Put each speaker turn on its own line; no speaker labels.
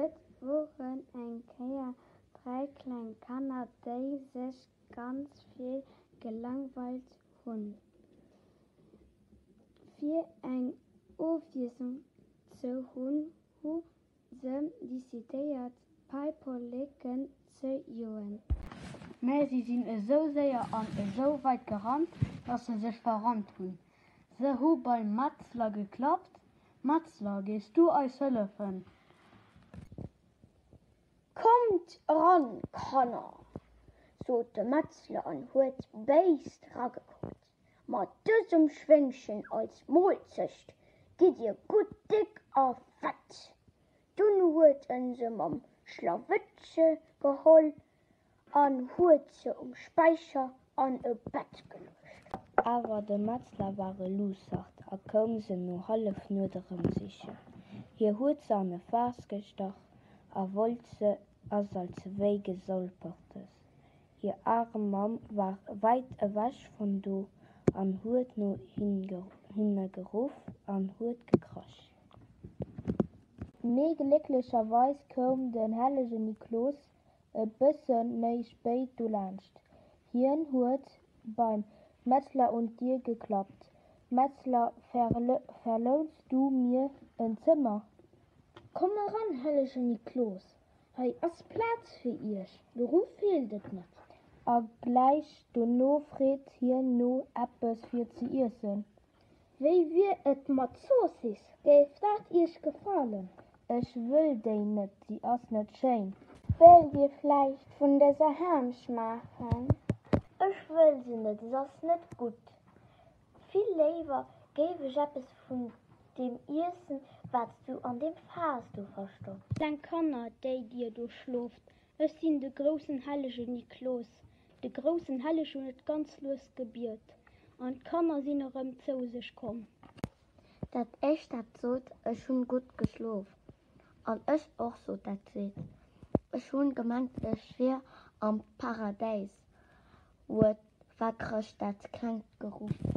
Et woren eng Kéier dräi kleng Kanner, déi sech ganz vill gelangweilt hunn. Fir eng Ofwiesslung ze hunn, hu Se decidéiert, d'Paiperleken ze joen. Mä se
sinn esou séier an esou weit gerannt, dass se sech verrannt hunn. Se hu beim Metzler geklappt. Metzler, Gees du eis hëllefen?
Kommt eran, Kanner! sot de Metzler an huet béis ragekuckt. Mat dësem Schwéngchen als Molzecht gitt dir gutt déck a fett. Dunn huet e se mam Schlawëttche geholl an huet se um Späicher an e Bett geluecht. Awer de
Metzler war e Luussert a koum se no Hallefnuet erëm sichen. Hie huet se an e Faass gestach a wollt se, ass als ewéi gesolpertes. Hir arem Mamm war weit ewech von do an huet no hinne geruff an huet gekrasch.
Mee glécklecherweis koum den hellegen Niklos e bëssen méi spéit dolaanscht. Hien huet beim Metzler un d'Dir geklappt, Metzler, verlouns du mir en Zëmmer? Komm
eran, hellegen Niklos! Hei ass Plaz fir iech, do ru feelt et net. A
gläich dono freet hien no eppes fir ze iessen. Wéi
wier et mat Zoossiss, géif dat iech gefalen? Ech wëll
déi net, déi ass net schéin. Wëllt dir
vläicht vun dëser Ham schmaachen? Ech wëll se net, se ass net gutt. Vill léiwer géif ech eppes vun deem iessen, wat s du an deem Faass do verstopps. Kleng Kanner,
déi dir do schloft, ech sinn de groussen hellegen Niklos. De groussen Helleg hunn et ganz lues gebiet, an d'Kanner sinn erëm zou sech komm. Dat
éischt, dat sot, Ech hunn gutt geschlof. An ech och, sot dat zweet, Ech hunn gemengt, ech wier am Paradäis. Uet, wat chrëscht dat klengt Geruff?